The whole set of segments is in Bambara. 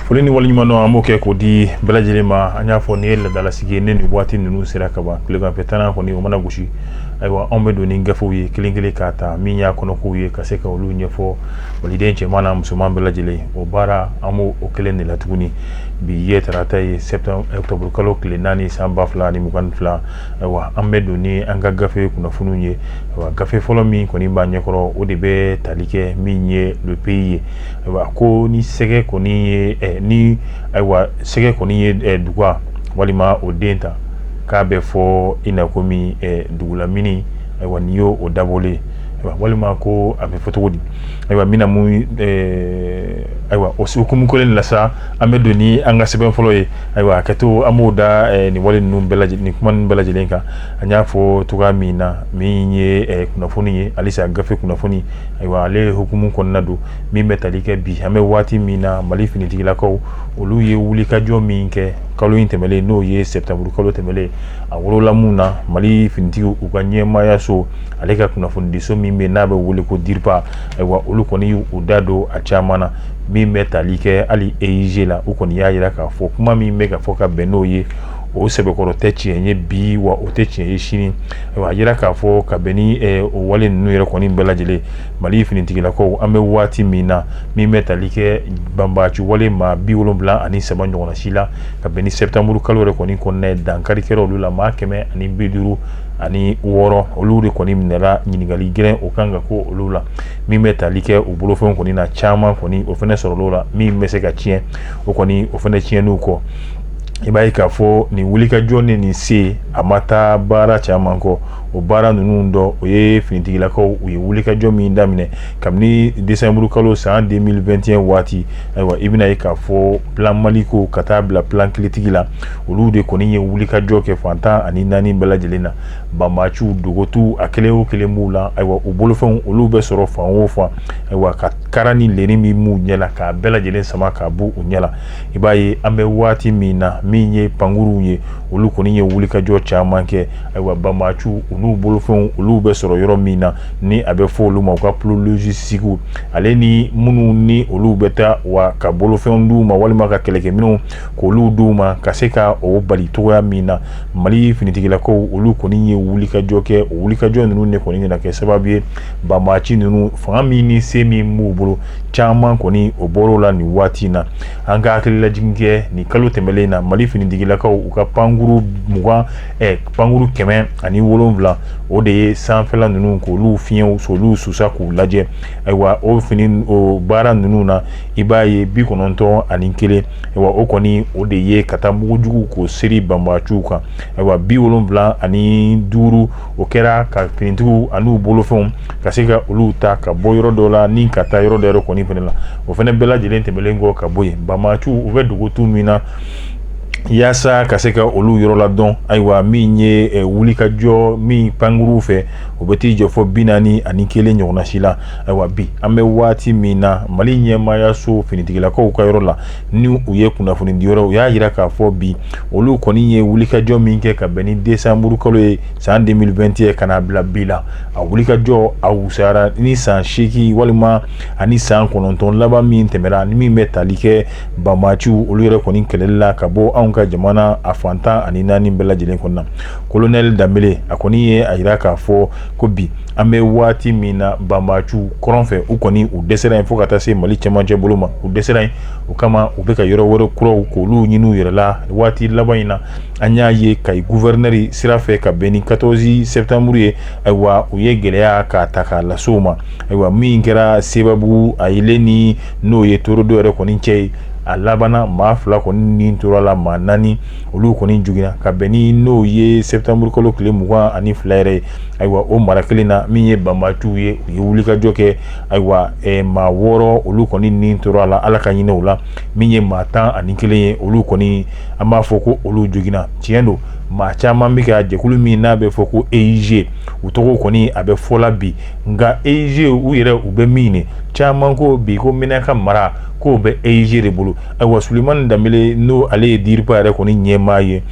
foli ni waleɲumandɔn an b'o kɛ k'o di bɛɛ lajɛlen ma an y'a fɔ nin ye laadalasigi ye ne nin waati ninnu sera ka ban tilegan fɛ tannan kɔni o mana gosi ayiwa anw bɛ don ni gafew ye kelen kelen k'a ta min y'a kɔnɔkow ye ka se ka olu ɲɛfɔ maliden cɛman n'a musoman bɛɛ lajɛlen o baara an b'o o kelen de la tuguni bi ye tarata ye ɔkutɔburu kalo tile naani san ba fila ni mugan ni fila ayiwa an bɛ don ni an ka gafe kunnafoniw ye ayiwa gafe fɔlɔ min kɔni b'a ɲɛkɔrɔ o de bɛ tali kɛ min ye le pays ye ayiwa ko ni sɛgɛ kɔni ye ni ayiwa sɛgɛ kɔni ye duga walima o den ta k'a bɛ fɔ i na komi dugulamini ayiwa n'i y'o o dabɔlen walima ko a bɛ fɔ cogo di ayiwa min na mun ayiwa o hukumu kelen la sa an bɛ don ni an ka sɛbɛn fɔlɔ ye ayiwa a kɛ to an b'o da nin wale ninnu ni kuma bɛɛ lajɛlen kan an y'a fɔ cogo min na min ye kunnafoni ye halisa gafe kunnafoni ayiwa ale hukumu kɔnɔna don min bɛ tali kɛ bi an bɛ waati min na mali finitigilakaw olu ye wulikajɔ min kɛ kalo in tɛmɛnlen n'o ye sɛtanburu kalo tɛmɛlen a wolola mun na mali finitigiw ka ɲɛmaayaso ale ka kunnafonidiso min bɛ n'a bɛ wele ko DIRPA ayiwa olu kɔni y'u da don a caman na min bɛ tali kɛ hali EIG la u kɔni y'a jira k'a fɔ kuma min bɛ ka fɔ ka bɛn n'o ye o sɛbɛkɔrɔ tɛ tiɲɛ ye bi wa o tɛ tiɲɛ ye sini a jira k'a fɔ ka bɛn ni o wale ninnu yɛrɛ kɔni bɛɛ lajɛlen mali finitigilakaw an bɛ waati min na min bɛ tali kɛ banbaci wale maa bi wolonwula ani saba ɲɔgɔn si la ka bɛn ni sɛtanburu kalo yɛrɛ kɔni kɔnɔ ye dankari kɛ olu la maa kɛmɛ ani bi duuru ani wɔɔrɔ olu de kɔni minɛra ɲininkali gɛlɛn o kan ka k'olu la min bɛ tali kɛ u bolofɛnw kɔni n'a caman kɔni o fɛnɛ sɔrɔl'o la min bɛ se ka tiɲɛ o kɔni o fɛnɛ tiɲɛniw kɔ i b'a ye k'a fɔ nin wulikajɔ ni nin se a ma taa baara caman kɔ o baara ninnu dɔ o ye finitigilakaw u ye wulikajɔ min daminɛ kabini desanburu kalo san 2021 waati ayiwa i bɛna ye k'a fɔ plan maliko ka taa bila plan kɛlɛtigi la olu de kɔni ye wulikajɔ kɛ fan tan ani naani bɛɛ lajɛlen na banbaciw dogotu a kelen o kelen b'u la ayiwa u bolofɛnw olu bɛ sɔrɔ fan o fan ayiwa ka kara ni leni min b'u ɲɛ la k'a bɛɛ lajɛlen sama k'a bɔ u ɲɛ la i b'a ye an bɛ waati min na min ye pankurunw ye olu kɔni ye wulikajɔ caman kɛ ayiwa banbaciw olu bolofɛnw olu bɛ sɔrɔ yɔrɔ min na ni a bɛ fɔ olu ma u ka plot logistique ale ni minnu ni olu bɛ taa wa ka bolofɛnw di u ma walima ka kɛlɛkɛminɛnw k'olu d'u ma ka se ka o bali cogoya min na mali finitigilakaw olu kɔni ye wulikajɔ kɛ o wulikajɔ ninnu de kɔni nana kɛ sababu ye banbaaci ninnu fanga min ni se min b'u bolo caman kɔni o bɔr'u la nin waati in na an ka hakililajigin kɛ nin kalo tɛmɛnen in na mali finitigilakaw u ka pankurun mugan pankurun kɛmɛ ani wolonwula o de ye sanfɛla ninnu k'olu fiɲɛw so olu susa k'u lajɛ ayiwa o baara ninnu na i b'a ye bi kɔnɔntɔn ani kelen ayiwa o kɔni o de ye ka taa mugujugu k'o seri banbaaciw kan ayiwa bi wolonwula ani duuru o kɛra ka finitigiw ani u bolofɛnw ka se ka olu ta ka bɔ yɔrɔ dɔ la ni ka taa yɔrɔ dɔ yɛrɛ kɔni fana la o fana bɛɛ lajɛlen tɛmɛnen kɔ ka bɔ yen banbaaciw u bɛ dogo tu min na yaasa ka se ka olu yɔrɔ la dɔn ayiwa min ye wulikajɔ min pankurunw fɛ o bɛ t'i jɔ fo bi naani ani kelen ɲɔgɔnna si la ayiwa bi an bɛ waati min na mali ɲɛmaayaso finitigilakaw ka yɔrɔ la ni u ye kunnafoni di yɔrɔ u y'a jira k'a fɔ bi olu kɔni ye wulikajɔ min kɛ ka bɛn ni desanburukalo ye san 2021 ye ka n'a bila bi la a wulikajɔ a wusayara ni san seegin walima ani san kɔnɔntɔn laban min tɛmɛna ani min bɛ tali kɛ banbaaciw olu yɛrɛ kɔni kɛlɛli la ka bɔ anw ka jamana a fan tan ani naani bɛɛ lajɛlen kɔnɔna colonel danbele a kɔni ye a jira k'a fɔ ko bi An bɛ waati min na banbaaciw kɔrɔn fɛ u kɔni u dɛsɛra yen fo ka taa se mali cɛmancɛ bolo ma u dɛsɛra yen o kama u bɛ ka yɔrɔ wɛrɛ kuraw k'olu ɲini u yɛrɛ la waati laban in na an y'a ye kayi gouverneur sira fɛ ka bɛn ni quatorze septembre ye ayiwa u ye gɛlɛya k'a ta k'a lase u ma ayiwa min kɛra sebabugu a yelen ni n'o ye torodo yɛrɛ kɔni cɛ ye a labanna maa fila kɔni ni tora la maa naani olu kɔni jogina ka bɛn ni n'o ye sɛtanburukalo tile mugan ani fila yɛrɛ ye ayiwa o mara kelen na min ye banbaaciw ye u ye wulikajɔ kɛ ayiwa maa wɔɔrɔ olu kɔni ni tora a la ala ka hinɛ u la min ye maa tan ani kelen ye olu kɔni an b'a fɔ ko olu jogina tiɲɛ don maa caman bɛ ka jɛkulu min n'a bɛ fɔ ko eig u tɔgɔ kɔni a bɛ fɔ la bi nka eig u yɛrɛ u bɛ min ni caman ko bi ko menaka mara k'o bɛ eig de bolo ayiwa sulemani danbele n'o ale ye dirpa yɛrɛ kɔni ɲɛmaa ye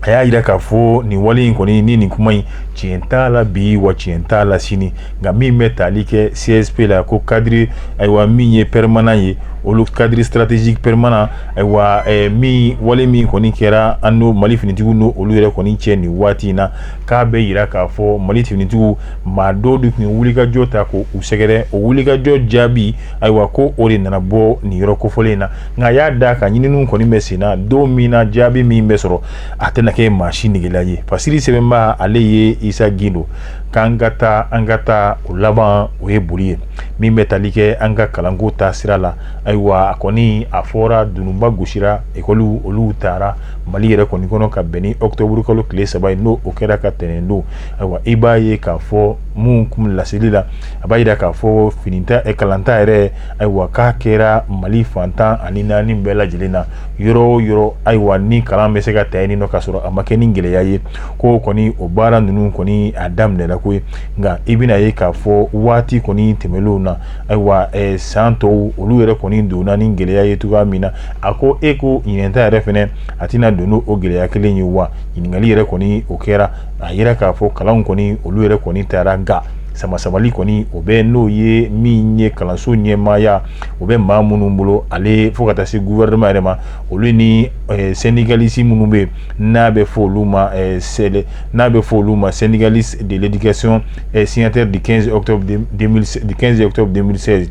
a y'a jira k'a fɔ nin wale in kɔni ni nin kuma in tiɲɛ t'a la bi wa tiɲɛ t'a la sini nka min bɛ tali kɛ csp la ko cadre ayiwa min ye permanent ye olu cadre stratégique permanent ayiwa min wale min kɔni kɛra an n'o mali finitigiw n'olu yɛrɛ kɔni cɛ nin waati in na k'a bɛ jira k'a fɔ mali finitigiw maa dɔ de tun ye wulikajɔ ta ko u sɛgɛrɛ o wulikajɔ jaabi ayiwa ko o de nana bɔ nin yɔrɔ kofɔlen in na nka y'a da ka ɲininiw kɔni bɛ sen na don min na jaabi min bɛ sɔrɔ a tɛna kɛ maa si negela ye fasiri sɛbɛnba ale ye isa gindo k'an ka taa an ka taa o laban o ye boli ye min bɛ tali kɛ an ka kalanko ta sira la ayiwa a kɔni a fɔra dununba gosira ekɔliw olu taara mali yɛrɛ kɔni kɔnɔ ka bɛn ni otoburukalo tile saba ye n'o o kɛra ka tɛnɛn don ayiwa i b'a ye k'a fɔ minnu kun laseli la a b'a jira k'a fɔ ɲinɛnta kalanta yɛrɛ ayiwa k'a kɛra mali fan tan ani naani bɛɛ lajɛlen na yɔrɔ o yɔrɔ ayiwa ni kalan bɛ se ka ta nin nɔ ka sɔrɔ a ma kɛ ni gɛlɛya ye ko kɔni o baara ninnu kɔni a daminɛra koyi nka i bɛn'a ye k'a fɔ waati kɔni tɛmɛnlenw na ayiwa san tɔw olu yɛrɛ kɔni donna ni gɛlɛya ye cogoya min na a ko e ko ɲinɛnta yɛrɛ fɛnɛ a tɛna don n'o gɛlɛya kelen ye wa ɲininkali yɛrɛ kɔni o kɛra a jira k'a fɔ kalan kɔni olu yɛrɛ kɔni taara ga samasamali kɔni o bɛ n'o ye min ye kalanso ɲɛmaaya o bɛ maa minnu bolo ale fo ka taa se gouvernement yɛrɛ ma olu ni eh, syndicaliste minnu bɛ n'a bɛ fɔ olu ma eh, sɛlɛ n'a bɛ fɔ olu ma syndicaliste de l'éducation eh, signataire du 15 octobre 2016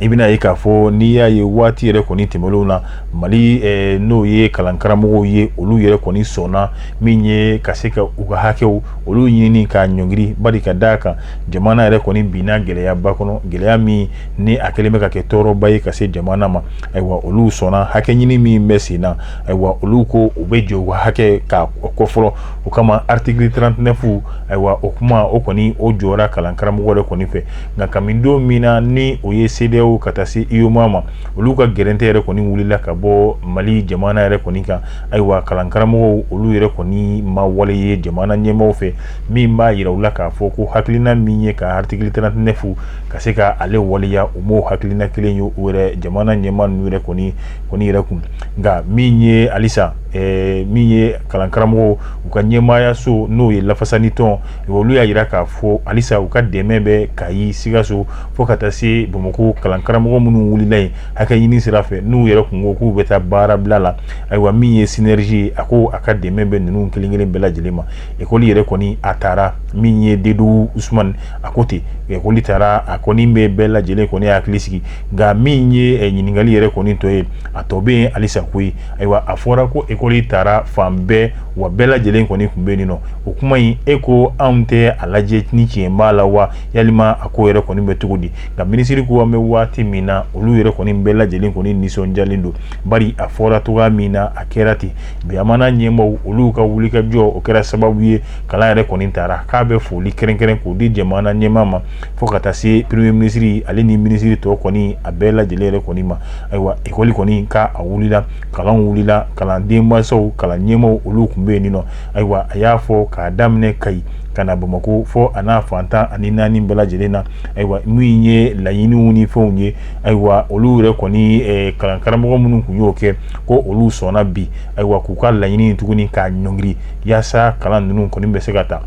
i bɛn'a ye k'a fɔ n'i y'a ye waati yɛrɛ kɔni tɛmɛnlenw na mali eh, n'o ye kalankaramɔgɔw ye olu yɛrɛ kɔni sɔnna min ye ka se ka u ka hakɛw olu ɲini k'a ɲɔngiri bari ka d'a kan jamana yɛrɛ kɔni binna gɛlɛyaba kɔnɔ gɛlɛya min ni a kɛlen bɛ ka kɛ tɔɔrɔba ye ka se jamana ma ayiwa olu sɔnna hakɛ ɲini min bɛ sen na ayiwa olu ko u bɛ jɔ hakɛ ka kɔ fɔlɔ o kama article 39 ayiwa o kuma o kɔni o jɔra kalankaramɔgɔ yɛrɛ kɔni fɛ nka kabini don min na ni o ye cedeao ka taa se uemoa ma olu ka gɛrɛntɛ yɛrɛ kɔni wulila ka bɔ mali jamana yɛrɛ kɔni kan ayiwa kalankaramɔgɔw olu yɛrɛ kɔni ma wale ye jamana ɲɛmaaw fɛ min b'a jira u la k'a fɔ ko hakilina min ye ka article 39 ka se k'ale waleya u m'o hakilina kelen ye u yɛrɛ jamana ɲɛmaa ninnu yɛrɛ kɔni yɛrɛ kun nka min ye alisa min ye kalankaramɔgɔw u ka ɲɛmaaya so n'o ye lafasani tɔn olu y'a jira k'a fɔ alisa u ka dɛmɛ bɛ kayi sikaso fo ka taa se bamakɔ kalankaramɔgɔ minnu wulila yen hakɛ ɲini sira fɛ n'u yɛrɛ kun ko k'u bɛ taa baara bila la ayiwa min ye synergie ye a ko a ka dɛmɛ bɛ ninnu kelenkelen bɛɛ lajɛlen ma ekɔli yɛrɛ kɔni a taara min ye dedu usumani a ko ten ekɔli taara a kɔni bɛ bɛɛ lajɛlen kɔni hakili sigi nka min ye ɲininkali yɛrɛ kɔni tɔ ye a tɔ bɛ yen alisa koyi ayiwa a fɔra ko ekɔli taara fan bɛɛ wa bɛɛ lajɛlen kɔni kun bɛ nin nɔ o kuma in e ko anw tɛ a lajɛ ni tiɲɛ b'a la wa yalima a ko yɛrɛ kɔni bɛ cogo di nka minisiri ko an bɛ waati min na olu yɛrɛ kɔni bɛɛ lajɛlen kɔni nisɔndiyalen don Bari a fɔra cogo min na a kɛra ten jamana ɲɛmaaw olu ka wulikajɔ o kɛra sababu ye kalan yɛrɛ kɔni tara k'a bɛ foli kɛrɛnkɛrɛn k'o di jamana ɲɛmaa ma fo ka taa se premier ministre ale ni minisiri tɔ kɔni a bɛɛ lajɛlen yɛrɛ kɔni ma ayiwa ekɔli kɔni ka a wulila kalan wulila kalandenmansaw kalan ɲɛmaaw olu kun bɛ yen nɔ ayiwa a y'a fɔ k'a daminɛ kayi ka na bamakɔ fɔ a n'a fantan ani naani bɛɛ lajɛlen na ayiwa min ye laɲiniw ni fɛnw ye ayiwa olu yɛrɛ kɔni eh, kalankaramɔgɔ minnu kun y'o kɛ ko olu sɔnna bi ayiwa k'u ka laɲini tuguni k'a ɲɔngiri yaasa kalan ninnu kɔni bɛ se ka ta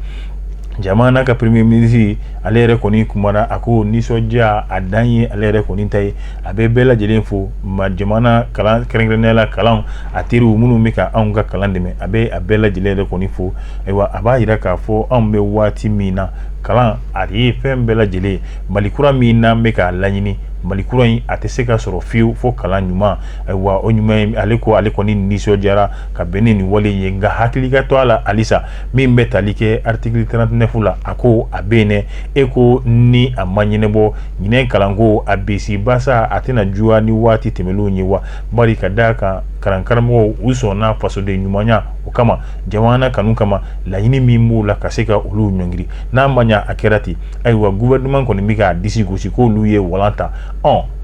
jamana ka premier ministre ale yɛrɛ kɔni kumana a ko nisɔndiya a dan ye ale yɛrɛ kɔni ta ye a bɛ bɛɛ lajɛlen fo ma jamana kalan kɛrɛnkɛrɛnnenya la kalan a teriw minnu bɛ ka anw ka kalan dɛmɛ a bɛ a bɛɛ lajɛlen yɛrɛ kɔni fo ayiwa a b'a yira k'a fɔ anw bɛ waati min na kalan a ye fɛn bɛɛ lajɛlen mali kura min n'an bɛ k'a laɲini mali kura in a tɛ se ka sɔrɔ fiyewu fo kalan ɲuman ayiwa o ɲuman ale ko ale kɔni nisɔndiyara ka bɛn ni nin wale ye nka hakili ka to a la halisa min bɛ tali kɛ article 39 la a ko a bɛ yen e ko ni a ma ɲɛnabɔ ɲinan kalanko a bisibasa a tɛna juguya ni waati tɛmɛnenw ye wa bari ka da a kan kalankaramɔgɔw u sɔnna fasoden ɲumanya o kama jamana kanu kama laɲini min b'u la ka se ka olu ɲɔngiri n'a ma ɲa a kɛra ten ayiwa gouvernement kɔni bɛ k'a disi gosi k'olu ye walan ta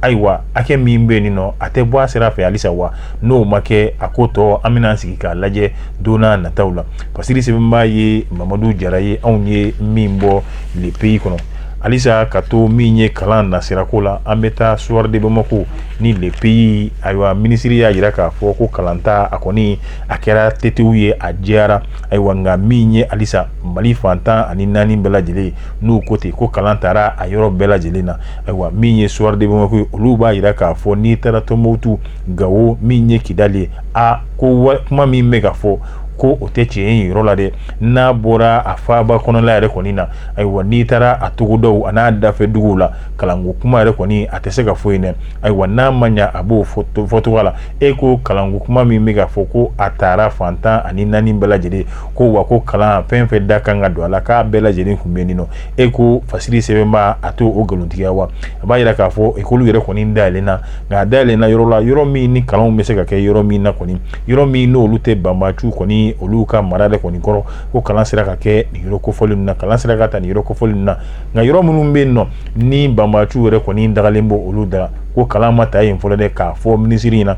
ayiwa hakɛ min bɛ yen nɔ a tɛ bɔ a sira fɛ halisa wa n'o ma kɛ a ko tɔ an bɛna sigi k'a lajɛ don nataw la fasiri sɛbɛnba ye mamadu jara ye anw ye min bɔ le pays kɔnɔ halisa ka to min ye kalan nasirako la an bɛ taa soir de bamako ni le pays ayiwa minisiri y'a yira k'a fɔ ko kalanta a kɔni a kɛra tetewu ye a jɛyara ayiwa nka min ye halisa mali fantan ani naani bɛɛ lajɛlen n'u ko ten ko kalan tara a yɔrɔ bɛɛ lajɛlen na ayiwa min ye soir de bamako ye olu b'a yira k'a fɔ n'i taara tumutu gawo min ye kidali ye a ko kuma min bɛ ka fɔ ko o tɛ tiɲɛ ye yɔrɔ la dɛ n'a bɔra a faaba kɔnɔla yɛrɛ kɔni na ayiwa n'i taara a togodaw a n'a dafɛ duguw la kalanko kuma yɛrɛ kɔni a tɛ se ka fɔ yen dɛ ayiwa n'a ma ɲa a b'o fɔcogo la e ko kalanko kuma min bɛ ka fɔ ko a tara fantan ani naani bɛɛ lajɛlen ko wa ko kalan fɛn fɛn ka kan ka don a la k'a bɛɛ lajɛlen kun bɛ yen nɔ e ko fasiri sɛbɛnba a t'o nkalontigiya wa a b'a yira k'a fɔ ekɔli yɛrɛ kɔni dayɛlɛnna nka a dayɛlɛnna yɔrɔ la yɔrɔ min ni kalan bɛ se ka kɛ yɔrɔ min na kɔni yɔrɔ min n'olu tɛ banbaanciw kɔni olu ka mara de kɔni kɔrɔ ko kalan sera ka kɛ nin yɔrɔ kofɔlen na kalan sera ka ta nin yɔrɔ kofɔlen na nka yɔrɔ minnu bɛ yen nɔ ni banbaanciw yɛrɛ kɔni dagalen b'olu da ko kalan ma ta yen fɔlɔ dɛ k'a fɔ minisiri in na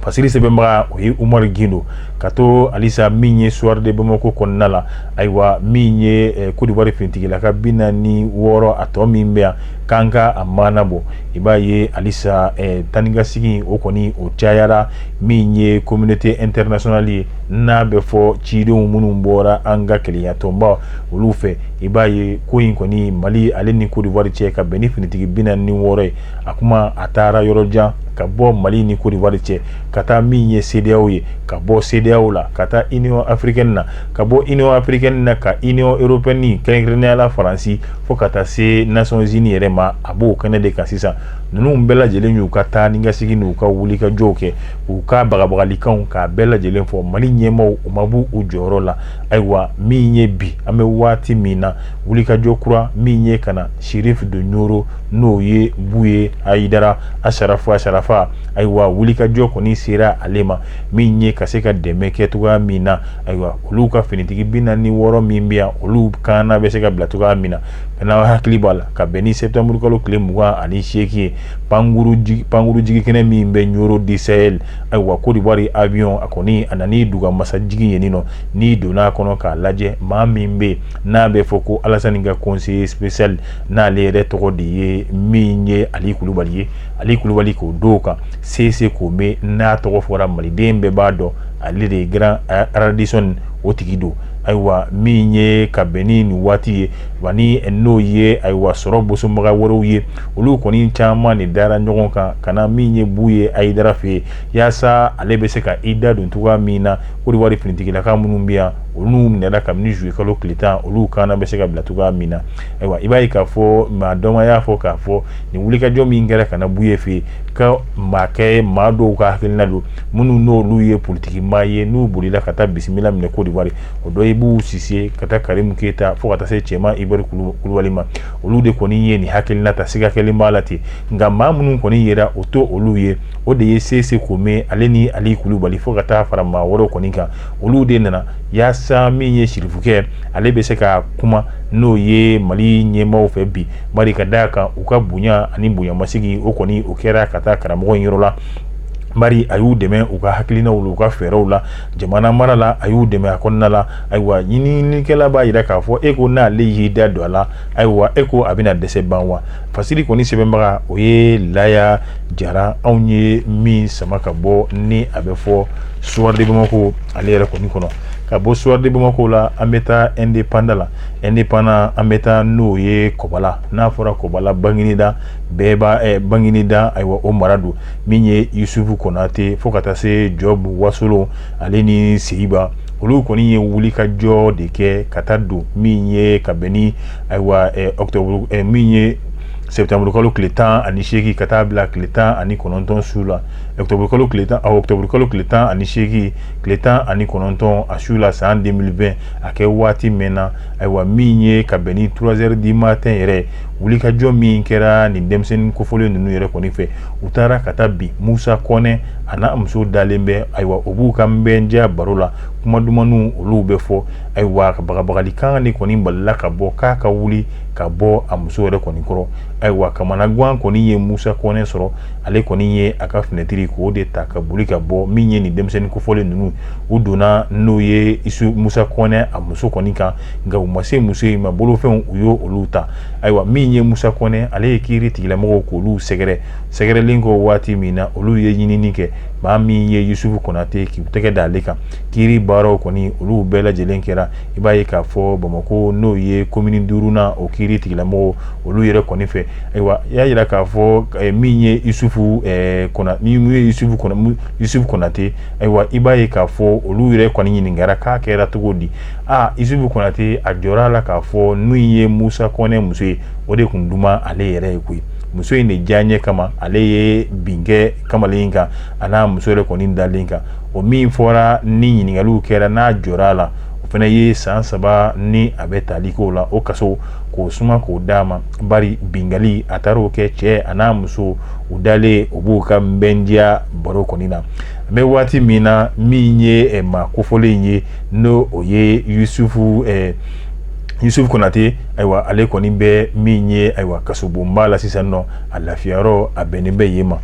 fasiri sɛbɛnbaga o ye umaru gindo ka to alisa min ye soir de bamakɔ kɔnɔna la ayiwa min ye eh, kodiwari finitigilaka bi naani ni wɔɔrɔ a tɔ min bɛ yan k'an ka a maana bɔ i b'a ye alisa eh, taanikasegin o kɔni o cayara min ye communauté internationale ye n'a bɛ fɔ cidenw minnu bɔra an ka kelenyatɔnba olu fɛ i b'a ye ko in kɔni mali ale ni kodiwari cɛ ka bɛn ni finitigi bi naani ni wɔɔrɔ ye a kuma a taara yɔrɔ jan ka bɔ mali ni kodiwari cɛ ka taa min ye CEDEAO ye ka bɔ CEDEAO la ka taa union africaine na ka bɔ union africaine na ka union européenne kɛrɛnkɛrɛnnenya la faransi fo ka taa se nations unies yɛrɛ ma a b'o kɛnɛ de kan sisan ninnu bɛɛ lajɛlen y'u ka taanikasegin n'u ka wulikajɔw kɛ u ka bagabagalikanw k'a bɛɛ lajɛlen fɔ mali ɲɛmaaw u ma bɔ u jɔyɔrɔ la ayiwa min ye bi an bɛ waati min na wulikajɔ kura min ye ka na sirifu de ɲoro n'o ye buye ayidara asarafu asarafa ayiwa wulikajɔ kɔni sera ale ma min ye ka se ka dɛmɛ kɛ cogoya min na ayiwa olu ka finitigi bi naani ni wɔɔrɔ min bɛ yan olu kana bɛ se ka bila cogoya min na n'aw hakili b'a la ka bɛn ni sɛtanburukalo tile mugan ani seegin ye pankurun jigi kɛnɛ min bɛ ɲoro du sɛ Ayiwa kodiwari avion a kɔni a nana ni duga masa jigi yen nɔ n'i donna a kɔnɔ k'a lajɛ maa min bɛ n'a bɛ fɔ ko alasani ka conseiller spécial n'ale yɛrɛ tɔgɔ de ye min ye ali kulubali ye ali kulubali k'o don kan sese kome n'a tɔgɔ fɔra maliden bɛɛ b'a dɔn ale de ye grand radisson o tigi don ayiwa min ye ka bɛn ni nin waati ye wa n'o ye ayiwa sɔrɔ bosobaga wɛrɛw ye olu kɔni caman nin dara ɲɔgɔn kan ka na min ye buye ayidara fɛ yaasa ale bɛ se ka i da don cogoya min na kodiwari finitigilaka minnu bɛ yan olu minɛna kabini zuluye kalo tile tan olu kana bɛ se ka bila cogoya min na ayiwa i b'a ye k'a fɔ maa dɔ y'a fɔ k'a fɔ nin wulikajɔ min kɛra ka na buye fɛ yen ka maakɛ maa dɔw ka hakilina don minnu n'olu ye politiki maa ye n'u bolila ka taa bisimila minɛ kodiwari o dɔ bubu sise ka taa karimu keyita fo ka taa se cɛman ibɛri kulubali ma olu de kɔni ye nin hakilina ta siga kɛlen b'a la ten nka maa minnu kɔni yera o to olu ye o de ye sese kome ale ni ali kulubali fo ka taa fara maa wɛrɛw kɔni kan olu de nana yaasa min ye sirifukɛ ale bɛ se ka kuma n'o ye mali ɲɛmaaw fɛ bi bari ka da kan u ka bonya ani bonyamasigi o kɔni o kɛra ka taa karamɔgɔ in yɔrɔ la bari a y'u dɛmɛ u ka hakilinaw u ka fɛɛrɛw la jamana mara la a y'u dɛmɛ a kɔnɔna la ayiwa ɲininikɛla b'a jira k'a fɔ e ko n'ale y'i da don a la ayiwa e ko a bɛna dɛsɛ ban wa fasiri kɔni sɛbɛnbaga o ye laya jara anw ye min sama ka bɔ ni a bɛ fɔ soir de bamakɔ ale yɛrɛ kɔni kɔnɔ ka bɔ soir de bamakɔ la an bɛ taa indépendant la indépendant an bɛ taa n'o ye kɔbala n'a fɔra kɔbala bagineda bɛɛ b'a bagineda ayiwa o mara don min ye yusufu konate fo ka taa se jɔbu wasolon ale ni seyiba olu kɔni ye wuli ka jɔ de kɛ ka taa don min ye ka bɛn ni ayiwa octobre min ye septembre kalo tile tan ani seegin ka taa bila tile tan ani kɔnɔntɔn su la octobre kalo tile tan ani seegin tile tan ani kɔnɔntɔn a su la san 2020 a kɛ waati min na ayiwa min ye ka bɛn ni trois heures du matin yɛrɛ wulikajɔ min kɛra nin denmisɛnnin kofɔlen ninnu yɛrɛ kɔni fɛ u taara ka taa bin musa kɔnɛ a n'a muso dalen bɛ ayiwa u b'u ka bɛndiya baro la kuma dumanw olu bɛ fɔ ayiwa ka bagabagali kan de kɔni balila ka bɔ k'a ka wuli ka bɔ a muso yɛrɛ kɔni kɔrɔ ayiwa kamanagan kɔni ye musa kɔnɛ sɔrɔ ale kɔni ye a ka finɛtiri k'o de ta ka boli ka bɔ min ye nin denmisɛnnin kofɔlen ninnu u donna n'o ye isu musa kɔnɛ a muso kɔni kan nka u ma se muso in ma bolofɛnw u y'o olu ta ayiwa min ye musa kɔnɛ ale ye kiiri tigilamɔgɔw k'olu sɛgɛrɛ sɛgɛrɛlen kɔ waati min na olu ye ɲinini kɛ maa min ye yusufu kɔnate k'u tɛgɛ da ale kan kiiri baaraw kɔni olu bɛɛ lajɛlen kɛra i b'a ye k'a fɔ bamakɔ n'o ye komini duurunan o kiiri tigilamɔgɔw olu yɛrɛ kɔni fɛ ayiwa i y'a jira k'a fɔ eh, min ye yusufu kɔnate ayiwa i b'a ye k'a fɔ olu yɛrɛ kɔni ɲininkara k'a kɛra cogo di aa isufu konate a jɔra a la k'a fɔ n'o ye musa kɔnɛ muso ye o de tun duman ale yɛrɛ ye koyi muso in de diyaɲɛ kama ale ye bin kɛ kamalen kan a n'a muso yɛrɛ kɔni dalen kan o min fɔra ni ɲininkaliw kɛra n'a jɔra a la o fana ye san saba ni a bɛ tali k'o la o kaso k'o suma k'o d'a ma bari binkali a taara o kɛ cɛ a n'a muso u dalen u b'u ka bɛndiya baro kɔni na an bɛ waati min na min ye maa kofɔlen in ye ni o ye yusufu eh, yusufu konate ayiwa ale kɔni bɛ min ye ayiwa kasobonba la sisan nɔ a lafiyayɔrɔ a bɛnnen bɛ yen ma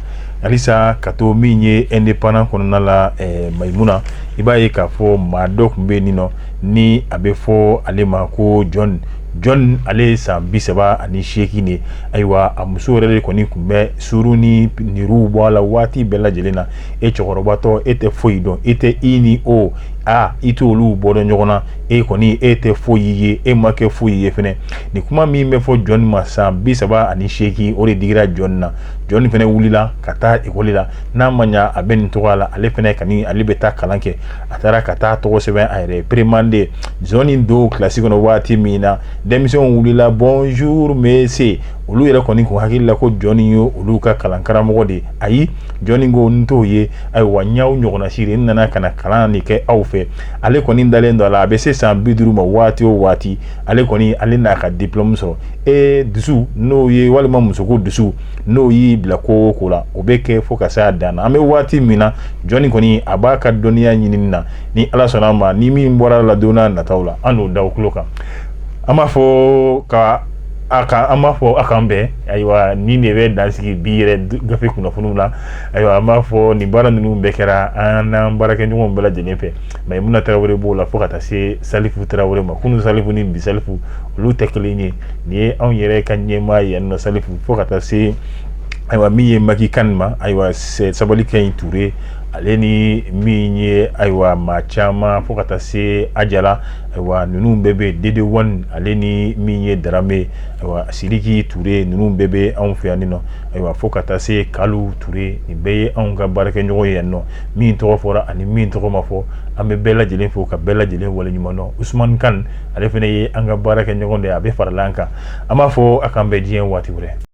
halisa ka to min ye indépendant kɔnɔna la eh, mayimuna i b'a ye k'a fɔ maa dɔ tun bɛ yen nɔ ni a bɛ fɔ ale ma ko john john ale ye san bi saba ani seegin de ayiwa a muso yɛrɛ de kɔni tun bɛ suru ni niruw bɔ a la waati bɛɛ lajɛlen na e cɛkɔrɔbatɔ e tɛ foyi dɔn e tɛ i ni o aa i tɛ olu bɔ dɔn ɲɔgɔn na e kɔni e tɛ foyi ye e ma kɛ foyi ye fana nin kuma min bɛ fɔ jɔnni ma san bi saba ani seegin o de digira jɔnni na jɔnni fana wulila ka taa ekɔli la n'a ma ɲa a bɛ nin tɔgɔ la ale fana ka ale bɛ taa kalan kɛ a taara ka taa tɔgɔ sɛbɛn a yɛrɛ peremanden jɔnni don kilasi kɔnɔ waati min na denmisɛnw wulila bonjour monsieur olu yɛrɛ kɔni k'u hakili la ko jɔnni ye olu ka kalan karamɔgɔ de ye ayi jɔnni ko n t'o ye ayiwa n y'aw ɲɔgɔnna siri n nana ka na kalan de kɛ aw fɛ ale kɔni dalen don a la a bɛ se san bi duuru ma waati o waati ale kɔni ale n'a ka diplɔmu sɔrɔ e dusu n'o ye walima musoko dusu n'o y'i bila ko o ko la o bɛ kɛ fo ka se a dan na an bɛ waati min na jɔnni kɔni a b'a ka dɔnniya ɲinini na ni ala sɔnna a ma ni min bɔra a la don nataw la an n'o da aw tulo kan an b'a fɔ ka a ka an b'a fɔ a k'an bɛn ayiwa nin de bɛ dansigi bi yɛrɛ gafe kunnafoniw la ayiwa an b'a fɔ nin baara ninnu bɛɛ kɛra an n'an baarakɛɲɔgɔnw bɛɛ lajɛlen fɛ mayimuna tarawele b'o la fo ka taa se salifu tarawele ma kunun salifu ni bi salifu olu tɛ kelen ye nin ye anw yɛrɛ ka ɲɛmaa yan nɔ salifu fo ka taa se ayiwa min ye maki kan ma ayiwa sabali ka ɲi ture ale ni min ye ayiwa maa caman fo ka taa se ajala ayiwa ninnu bɛɛ bɛ yen dede one ale ni min ye daramɛ ayiwa sidiki ture ninnu bɛɛ bɛ anw fɛ yan nɔ ayiwa fo ka taa se kalu ture nin bɛɛ ye anw ka baarakɛɲɔgɔn ye yan nɔ min tɔgɔ fɔra ani min tɔgɔ ma fɔ an bɛ bɛɛ lajɛlen fo ka bɛɛ lajɛlen waleɲumandɔn usman kan ale fana ye an ka baarakɛɲɔgɔn de ye a bɛ farala an kan an b'a fɔ a k'an bɛn diɲɛ waati wɛrɛ